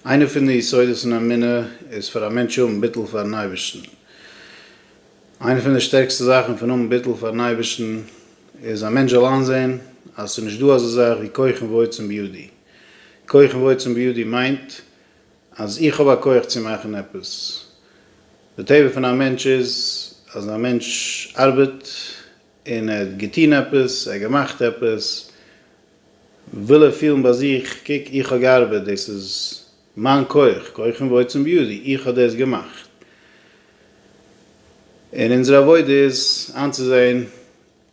איינע פון די יסודות אין אמונה איז פאר א מענטש האבן ביטול פארן אייבערשטן. איינע פון די שטערקסטע זאכן פון האבן ביטול פארן אייבערשטן איז א מענטש זאל איינזען אז עס איז נישט דא אזא זאך ווי כוחם ועוצם בידי. כוחם ועוצם בידי מיינט אז איך האב א כוח צו מאכן עפעס. די טבע פון א מענטש איז אז א מענטש ארבעט און ער האט געטון עפעס, ער האט געמאכט עפעס, וויל ער פילן ביי זיך, קוק איך האב געארבעט, דאס איז מיין כח, כוחם ועוצם בידי, איך האב דאס געמאכט. און אונזער עבודה איז איינצוזען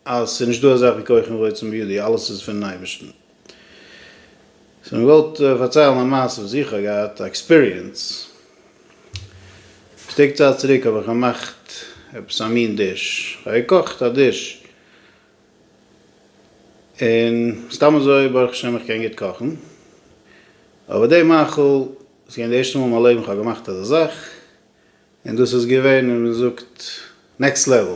אז ס'איז נישטא אזאך ווי כוחם ועוצם בידי, אלעס איז פונעם אייבערשטן. סאו מען וואלט פארציילן א מעשה וואס איך האב געהאט א עקספיריענס. שטיק צייט צוריק האב איך געמאכט עפעס א מין דיש, איך האב געקאכט א דיש, און סתם אזוי ברוך השם איך קען גוט קאכן, אבער די מאכל, ס'איז געווען די ערשטע מאל אין מיין לעבן איך האב געמאכט אזא זאך, און דאס איז געווען ווי מען זאגט נעקסט לעוועל,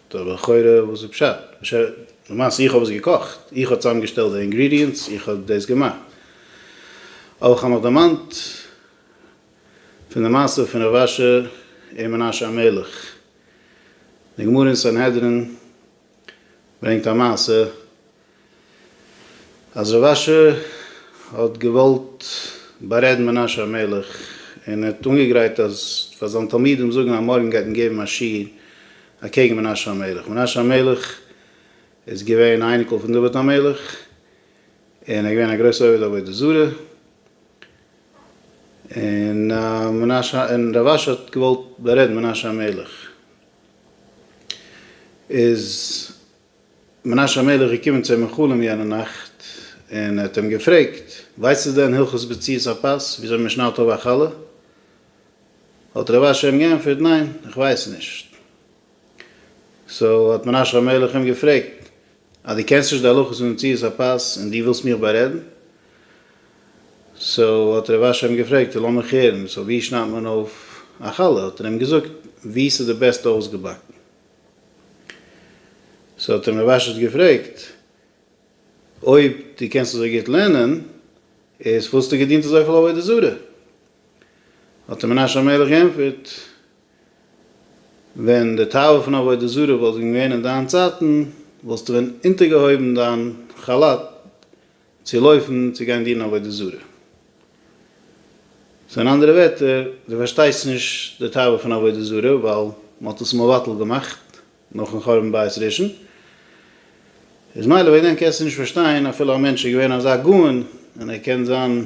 טא לכאורה וואס איז פשט? משא כ למעשה איך האב עס געקאכט, איך האב צוזאמגעשטעלט די אינגרידיענטס, איך האב דאס געמאכט. אבער כ'האב מיך דערמאנט פון די מעשה פון רב אשר און מנשה המלך. די גמרא אין סנהדרין ברענגט א מעשה אז רב אשר האט געוואלט בארעדן מנשה המלך און ער האט אנגעגרייט אז פאר זיין תלמידים זאגן אז מארגן גייט מען געבן א שיעור אקעגן מנשה המלך, מנשה המלך איז געווען א אייניקל פון דוד המלך און ער איז געווען א גרויסע עובד עבודה זרה, און מנשה און רב אשר האט געוואלט בארעדן מנשה המלך איז מנשה המלך איז געקומען צו אים אין חלום יענע נאכט, און ער האט אים געפרעגט, ווייסטו דען הלכות בציאות הפת, וויאזוי מען שניידט אויף א חלה? האט רבי אשר אים געענטפערט, ניין, איך ווייס נישט. סאו האט מנשה המלך אים געפרעגט, אז דו קענסט נישט די הלכות פון מציאות הפת, און דו ווילסט מיך בארעדן? סאו האט רבי אשר אים געפרעגט, לאמיך הערן, סאו ווי שניידט מען אויף א חלה? האט ער אים געזאגט, ווי ס'איז די בעסטע אויסגעבאקן. סאו האט אים ר' אשת געפרעגט, אויב דו קענסט אזוי גוט לערנען, איז וואלסטו געדינט אזויפיל עבודה זרה? האט אים מנשה המלך געענטפערט, ווען די תאווה פון עבודה זרה וואלט ווען געווען אין דיין צייטן, וואלסטו ווען אונטערגעהויבן דיין כאלאט, צו לויפן צו גיין דינען עבודה זרה. סאו אין אנדערע ווערטער, דו פארשטייסט נישט די תאווה פון עבודה זרה, ווייל מען האט עס מבטל געמאכט נאכן חורבן בית ראשון, איז מילא וועגן דעם קענסטו נישט פארשטיין אפילו א מענטש איז געווען אזא גאון און ער קען זיין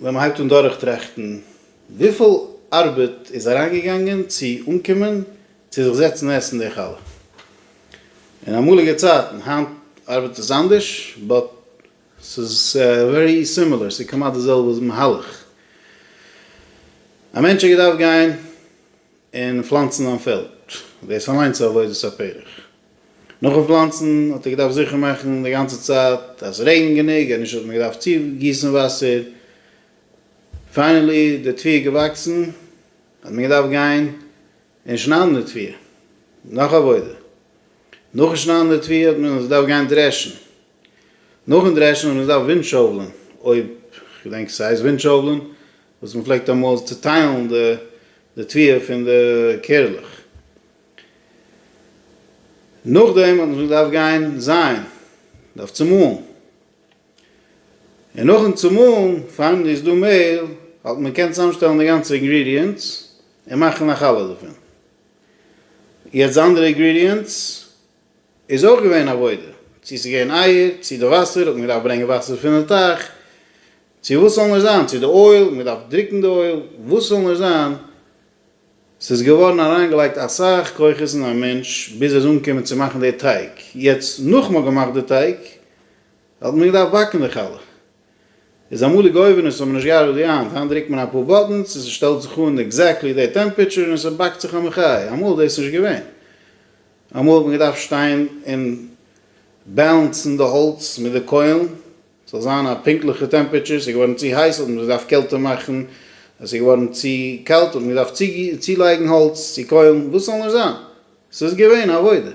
ווען מען הייבט אן דורכטראכטן וויפיל ארבעט איז אריינגעגאנגען צו אנקומען צו זיך זעצן עסן די חלה אין אמאליגע צייטן, היינט ארבעט עס אנדערש באט ס'איז ווערי סימילער, ס'איז כמעט די זעלבע מהלך, א מענטש האט געדארפט גיין. און פלאנצן זיין פעלד, דאס אליינס איז עבודת הפרך. נאכן פלאנצן האט ער געדארפט זיכער מאכן די גאנצע צייט אז עס רעגנט גענוג, אז נישט וואלט מען געדארפט צוגיסן וואסער. פיינעלי די טביעה איז געוואקסן, האט מען געדארפט גיין און שניידן די טביעה, נאך עבודה. נאכן שניידן די טביעה האט מען עס געדארפט גיין דרעשן, נאכן דרעשן האט מען עס געדארפט ווינדשאוולען, אויב כ'געדענק ס'הייסט ווינדשאוולען, וואס מען פלעגט אמאל צוטיילן די תביעה פון די קערלעך, נאכדעם האט מען זיך געדארפט גיין זייען, געדארפט צומאלן, און נאכן צומאלן פארן איז דא מעהל, האט מען געקענט צוזאמשטעלן די גאנצע אינגרידיענטס און מאכן א חלה דערפון, יעצט די אנדערע אינגרידיענטס. איז אויך געווען עבודה, צו ס'איז געווען אייער, צו די וואסער, האט מען געדארפט ברענגען וואסער פון די טייך, צו וואס ס'זאל נאר זיין, צו די אויל, האט מען געדארפט דרוקן די אויל, וואס ס'זאל נאר זיין, ס'איז געווארן אריינגעלייגט אסאך כוחות אין א מענטש ביז ער איז אנגעקומען צו מאכן די טייג, יעצט נאך מ'האט געמאכט די טייג, האט מען געדארפט באקן די חלה. איז אמאליג אויווענעס האבן נישט געארבעט ווי היינט, היינט דרוקט מען אפאר באטענס און ס'שטעלט זיך אן עקזעקטלי די טעמפעטשור און ס'באקט זיך א מחי', אמאל איז דאס נישט געווען, אמאל האט מען געדארפט שטיין און בעלענסן די האלץ מיט די קוילן ס'זאל זיין א פונקטליכע טעמפעטשור, ס'איז געווארן צו הייס האט מען געדארפט קעלטער מאכן, ס'איז געווארן צו קאלט האט מען געדארפט צולייגן האלץ צו קוילן, וואס ס'זאל נישט זיין, ס'איז געווען עבודה.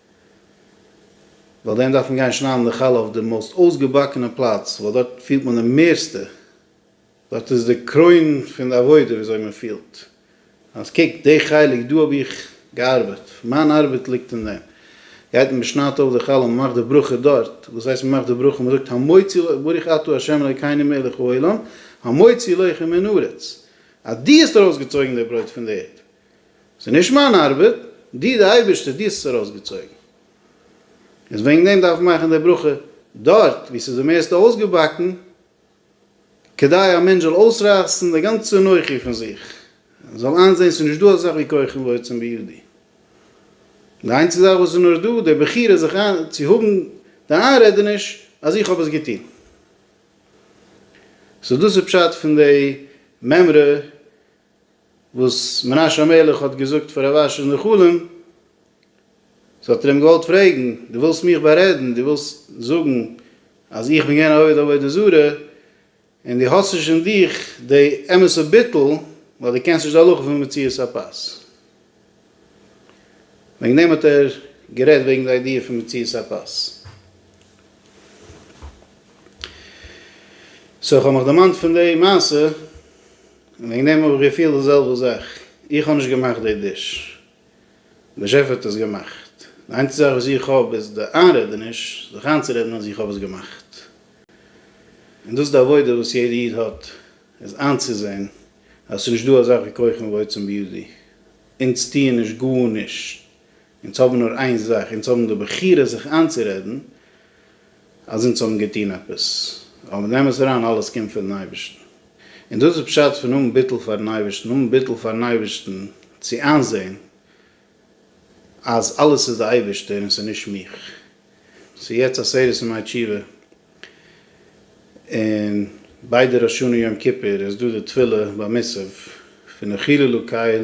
ווייל דען דארף מען גיין שניידן די חלה אויף די מאוסט אויסגעבאקענע פלאץ, ווייל דארט פילט מען די מערסטע, דארט איז די קרוין פון די עבודה ווי אזוי מען פילט אז קוק די חלק דא האב איך געארבעט, מיין ארבעט ליגט אין דעם, גייט מען שניידט אויף די חלה, מען מאכט די ברכה דארט, וואס הייסט מען מאכט די ברכה, מען זאגט המוציא לוי ברוך אתה ה' אלוקינו מלך העולם המוציא לחם מן הארץ, אז דו האסט ארויסגעצויגן די ברויט פון די ערד, ס'איז נישט מיין ארבעט, דו די אייבערשטער, דו האסט עס ארויסגעצויגן. איז וועגן דעם דארף מען מאכן די ברכה דארט וואו ס'איז די מערסטע אויסגעבאקן, כדי א מענטש זאל אויסרייסן די גאנצע אנוכי פון זיך, און זאל איינזען ס'איז נישט דא אזאך ווי כוחו ועוצם בידו. די איינציגסטע זאך וואס איז נאר דא, די בחירה זיך איין צו האבן די איינרעדעניש אז איך האב עס געטון. סאו דאס איז פשט פון די מימרא וואס מנשה המלך האט געזאגט פאר רב אשר אין די חלום, סאו האט ער אים געוואלט פרעגן, דו ווילסט מיך בארעדן, דו ווילסט זאגן אז איך בין געווען א עובד עבודה זרה, און דו האסט נישט אין דיך די אמת'ע ביטול, ווייל דו קענסט נישט די הלכה פון מציאת הפת. וועגן דעם האט ער גערעדט וועגן די איידיע פון מציאת הפת. סאו איך האב מיך דערמאנט פון די מעשה, און וועגן דעם האב איך געפילט די זעלבע זאך, איך האב נישט געמאכט די דיש, דער שעף האט עס געמאכט, די איינציגסטע זאך וואס איך האב איז די איינרעדעניש זיך איינצורעדן אז איך האב עס געמאכט, און דאס איז די עבודה וואס יעדע איד האט, איז איינצוזען אז עס איז נישט דא אזאך ווי קוכן ועוצם בידי, אונז טוען נישט גארנישט אונז האבן נאר איין זאך, אונז האבן די בחירה זיך איינצורעדן אז אונז האבן געטון עפעס, אבער נעם עס אריין אלעס קומט פונעם אייבערשטן, און דאס איז פשט פון האבן ביטול פארן אייבערשטן, האבן ביטול פארן אייבערשטן צו איינזען אז אלעס איז די אייבערשטער און ס'איז נישט מיך, ס'איז יעצט עשרת ימי תשובה, און ביידע ראש השנה יום כיפור איז דא די תפילה ביי מוסף פון החילו לקייל,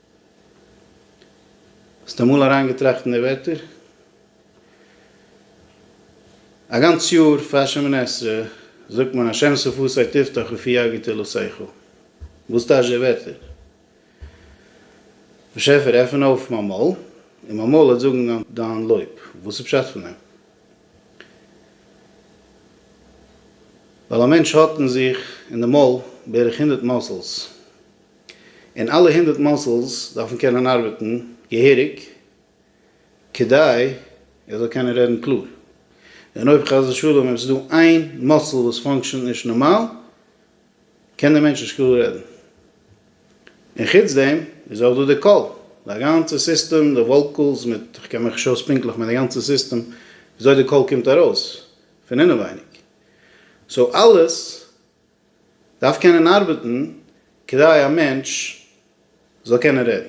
האסט אמאל אריינגעטראכט אין די ווערטער? א גאנץ יאר פאר שמיני עשרה זאגט מען השם שפתי תפתח ופי יגיד אלו שיחו. וואס טייטש די ווערטער? באשעפער עפן אויף מיין מויל און מיין מויל וועט זאגן דיין לויב. וואס איז פשט פון דעם? ווייל א מענטש האט אין זיך, אין די מויל, בערך הונדערט מאסעלס. און אלע הונדערט מאסעלס דארפן קענען ארבעטן געהעריג כדי ער זאל קענען רעדן קלאר, און אויב חס ושלום עס איז דא איין מאסעל וואס פאנקשענט נישט נארמאל קען דער מענטש נישט קלאר רעדן, און חוץ דעם איז אויך דא די קול, די גאנצע סיסטעם, די וואלקעלס מיט, איך קען מיך נישט אויס פונקטליך מיט די גאנצע סיסטעם וויאזוי די קול קומט ארויס פון אינעווייניג, סאו אלעס דארף קענען ארבעטן כדי א מענטש זאל קענען רעדן.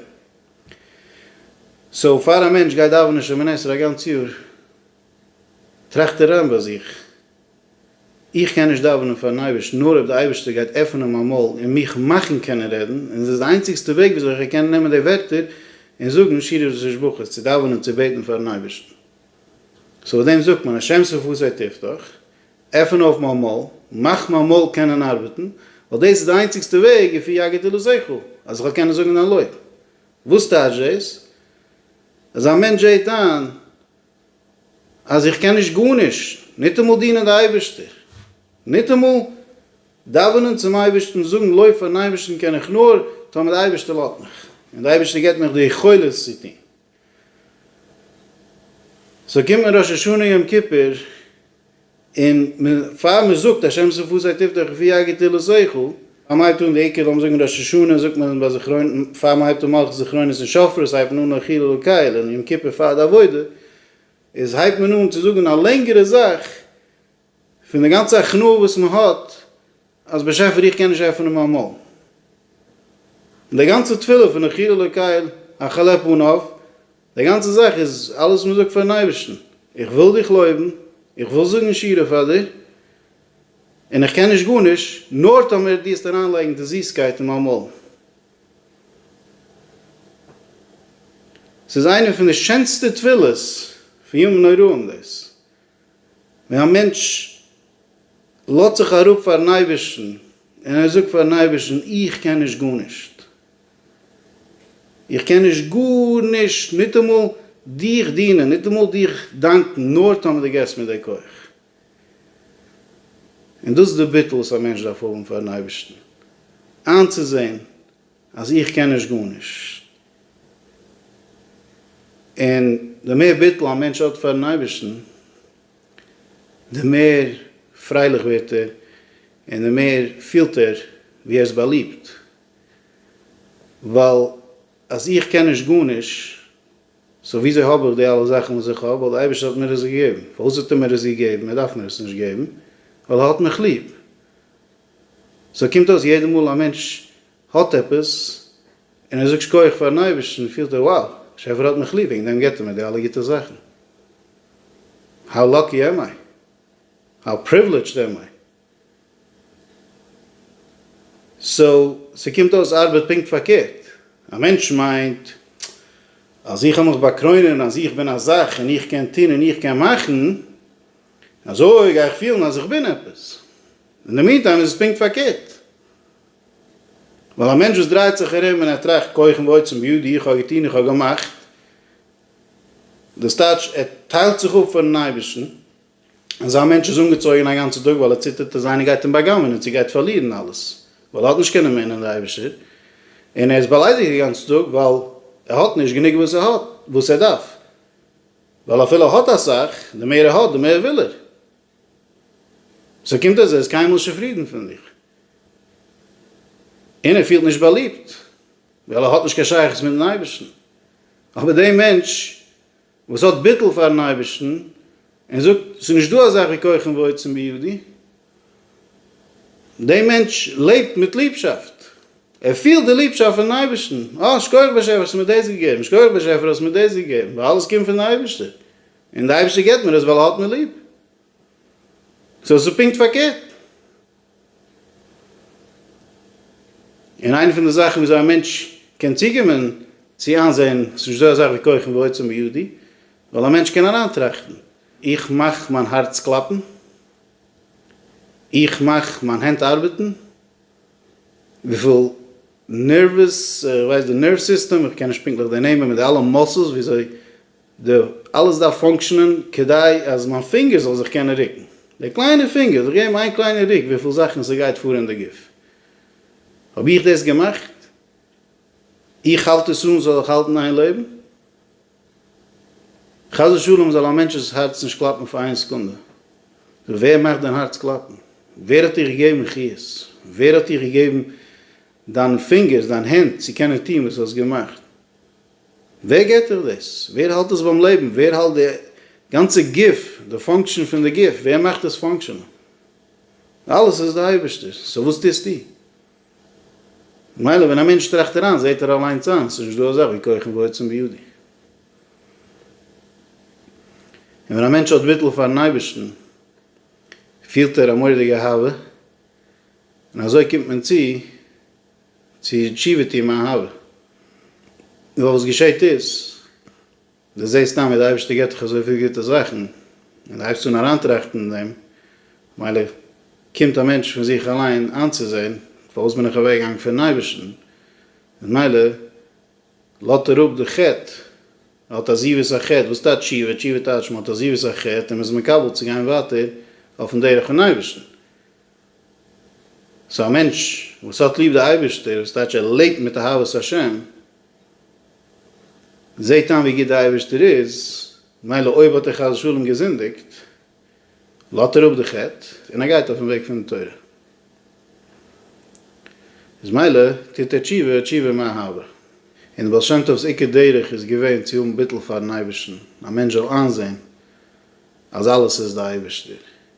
סאו פאר א מענטש גייט דאווענען שמונה עשרה א גאנץ יאר, טראכט ער אריין ביי זיך, איך קען נישט דאווענען פארן אייבערשטן נאר אויב די אייבערשטער גייט עפענען מיין מויל און מיך מאכן קענען רעדן, און עס איז די איינציגסטע וועג וויאזוי איך קען נעמען די ווערטער און זאגן שירות ותשבחות, צו דאווענען צו בעטן פארן אייבערשטן. סאו דעם זאגט מען השם שפתי תפתח, עפען אויף מיין מויל, מאך מיין מויל קענען ארבעטן, ווייל דאס איז די איינציגסטע וועג לפי יגדלו זכרו, אז איך זאל קענען זאגן דיין לוי'. וואס טייטש דאס? אז א מענטש זעהט איין אז איך קען נישט גארנישט, ניטאמאל דינען די אייבערשטער, ניטאמאל דאווענען צום אייבערשטן, זאגן לוי' פארן אייבערשטן קען איך נאר, טאמער די אייבערשטער לאזט מיך, און די אייבערשטער געבט מיך די יכולת צו טון. סאו קומט מען ראש השנה יום כיפור, און מען פאר מען זאגט השם זכור זיי תפדה כפי הגדתי לזכור, פאר מען הייבט אן די עיקר לאמיר זאגן ראש השנה זאגט מען ביי זכרון פאר מען הייבט אן מלכות זכרונות און שופרות הייבט מען אן אכיל אלקיל און יום כיפור פאר די עבודה איז הייבט מען אן צו זאגן א לענגערע זאך פון די גאנצע הכנעה וואס מען האט אז באשעפער איך קען נישט עפענען מיין מויל און די גאנצע תפילה פון אכיל אלקיל איך כאפ אן אויף די גאנצע זאך איז אלעס וואס מען זאגט פארן אייבערשטן, איך וויל דיך לויבן, איך וויל זאגן שירה פאר דיר, און איך קען נישט גארנישט, נאר טאמער דו העסט אריינלייגן די זיסקייט אין מיין מויל. ס'איז איינע פון די שענסטע תפילות פון ימים נוראים דאס, ווען א מענטש לאזט זיך אראפ פארן אייבערשטן און ער זאגט פארן אייבערשטן, איך קען נישט גארנישט, איך קען נישט גארנישט, ניטאמאל דיך דינען, ניטאמאל דיך דאנקן, נאר טון וואס דו געבסט מיר די כח. און דאס איז די ביטול וואס א מענטש דארף האבן פאר'ן אייבערשטן, איינצוזען אז איך קען נישט גארנישט. און די מער ביטול א מענטש האט פאר'ן אייבערשטן, די מער פרייליך ווערט ער, און די מער פילט ער ווי ער איז באליבט. ווייל אז איך קען נישט גארנישט, סאו וויאזוי האב איך די אלע זאכן וואס איך האב? ווייל די אייבערשטער האט מיר עס געגעבן. פארוואס האט ער מיר עס געגעבן? ער דארף מיר עס נישט געבן, ווייל ער האט מיך ליב. סאו קומט אויס יעדע מאל א מענטש האט עפעס, און ער זאגט שקויעך פארן אייבערשטן, פילט ער wow, באשעפער האט מיך ליב, וועגן דעם געבט ער מיר די אלע גוטע זאכן. האו לאקי עמ איי? האו פריוולידזשד עמ איי? סאו ס'קומט אויס ארבעט פונקט פארקערט, א מענטש מיינט אז איך וועל מיך באקרוינען אז איך בין א זאך און איך קען טון און איך קען מאכן, אזוי גיי איך פילן אז איך בין עפעס, אין די מינטיים איז עס פונקט פארקערט, ווייל א מענטש וואס דרייט זיך ארום און ער טראכט כחם ועוצם בידי איך האב געטון איך האב געמאכט, דאס טייטש ער טיילט זיך אפ פונעם אייבערשטן. אזא מענטש איז אנגעצויגען א גאנצע טאג ווייל ער ציטערט אז איינער גייט אים בא'גנב'ענען און ס'גייט פארלירען אלעס ווייל ער האט נישט קיין אמונה אין די אייבישטער און ער איז באליידיגט די גאנצע טאג ווייל ער האט נישט גענוג וואס ער האט וואס ער דארף ווייל אפילו ער האט אסאך די מער ער האט די מער וויל ער סאו קומט אז ער איז קיינמאל נישט צופרידען פון זיך און ער פילט נישט באליבט ווייל ער האט נישט קיין שייכות מיטן אייבישטען אבער די מענטש וואס האט ביטול פארן אייבערשטן און זאגט עס איז נישט דא אזאך ווי כוחם ועוצם בידי, דער מענטש לעבט מיט ליבשאפט, ער פילט די ליבשאפט פונעם אייבערשטן, אה שכוח באשעפער האסט מיר דאס געגעבן, שכוח באשעפער האסט מיר דאס געגעבן, ווייל אלעס קומט פון די אייבערשטער, און די אייבערשטער געבט מיר עס ווייל ער האט מיר ליב, סאו עס איז פונקט פארקערט. און איינע פון די זאכן וויאזוי א מענטש קען צוקומען צו איינזעהן ס'איז נישט דא אזאך ווי כוחם ועוצם בידי, ווייל א מענטש קען אריין טראכטן, איך מאך מיין הארץ קלאפן, איך מאך מיין הענט ארבעטן, וויפיל נערוועס, איך ווייס די נערוו סיסטעם, איך קען נישט פונקטליך די נעמען, מיט די אלע מאסעלס וויאזוי די אלעס דארף פאנקשענען כדי אז מיין פינגער זאל זיך קענען רוקן, די קליינע פינגער זאל געבן איין קליינע רוק וויפיל זאכן ס'גייט פאר אין די גוף. האב איך דאס געמאכט? איך האלט עס אן זאל איך האלטן איין לעבן? חס ושלום זאל א מענטש'ס הארץ נישט קלאפן פאר איין סעקונדע. ווער מאכט דיין הארץ קלאפן? ווער האט דיר געגעבן חיות? ווער האט דיר געגעבן דיין פינגערס, דיין הענט צו קענען טון וואס האסט געמאכט? ווער געט דיך דאס? ווער האלט דאס ביים לעבן? ווער האלט די גאנצע גוף, די פאנקשען פון די גוף, ווער מאכט עס פאנקשענען? אלעס איז די אייבערשטער, סאו וואס טוסטו? ממילא ווען א מענטש טראכט אריין זעט ער אליינס איין, עס איז נישט דא אזאך ווי כוחם ועוצם בידי. און ווען א מענטש האט ביטול פארן אייבערשטן פילט ער א מורא'דיגע אהבה, און אזוי קומט מען צו, צו תשובה טון מיין הוה. נאר וואס געשעהט איז, דו זעהסט סתם ווי די אייבערשטער געבט דיך אזויפיל גוטע זאכן, און דו הייבסט אן אריינטראכטן אין דעם, מילא קומט א מענטש פון זיך אליין איינצוזעהן, פארוואס בין איך אוועק געגאנגען פונעם אייבערשטן, און מילא לאט ער אפ די חטא, ער האט עזיבת החטא, וואס טייטש תשובה? תשובה טייטש מען האט עזיבת החטא און מען איז מקבל צו גיין ווייטער אויפן דרך פון אייבערשטן, סאו א מענטש וואס האט ליב די אייבערשטער, וואס טייטש ער לעבט מיט אהבת השם, זעהט איין ווי גוט די אייבערשטער איז, מילא אויב האט ער חס ושלום געזינדיגט, לאט ער אפ די חטא און ער גייט אויפן וועג פון תורה. איז מילא טוט ער תשובה, תשובה מאהבה. און די בעל שם טוב'ס עיקר דרך איז געווען צו האבן ביטול פארן אייבערשטן, א מענטש זאל איינזעהן אז אלעס איז די אייבערשטער.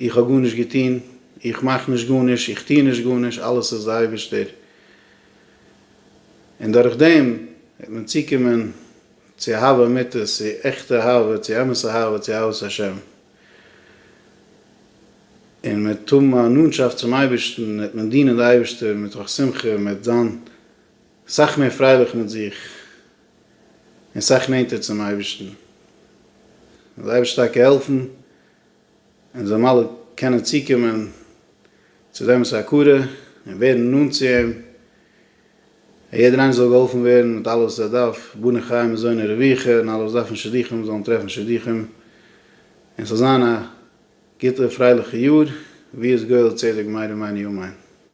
איך האב גארנישט געטון, איך מאך נישט גארנישט, איך טוה נישט גארנישט, אלעס איז די אייבערשטער. און דורך דעם וועט מען צוקומען צו אהבה אמיתית, צו עכטע אהבה, צו אמת אהבה, צו אהבת השם. און מען וועט האבן א נאנטשאפט צום אייבערשטן, וועט מען דינען די אייבערשטער מתוך שמחה, מען וועט זיין סאך מער פרייליך מיט זיך, און סאך נענטער צום אייבערשטן. דער אייבערשטער טאקע העלפן און זיי מלא קענען צוקומען צו דעם איסור הכרה און ווערן נאנט צו אים, אז יעדער איינער זאל געהאלפן ווערן מיט אלעס וואס ער דארף, בני חיי מזוני רוויחה, און אלע וואס דארפן שידוכים זאלן טרעפן שידוכים, און ס'זאל זיין א גוטע פרייליכע יאר, ויעש גואל צדק מהר א מעין ימיין.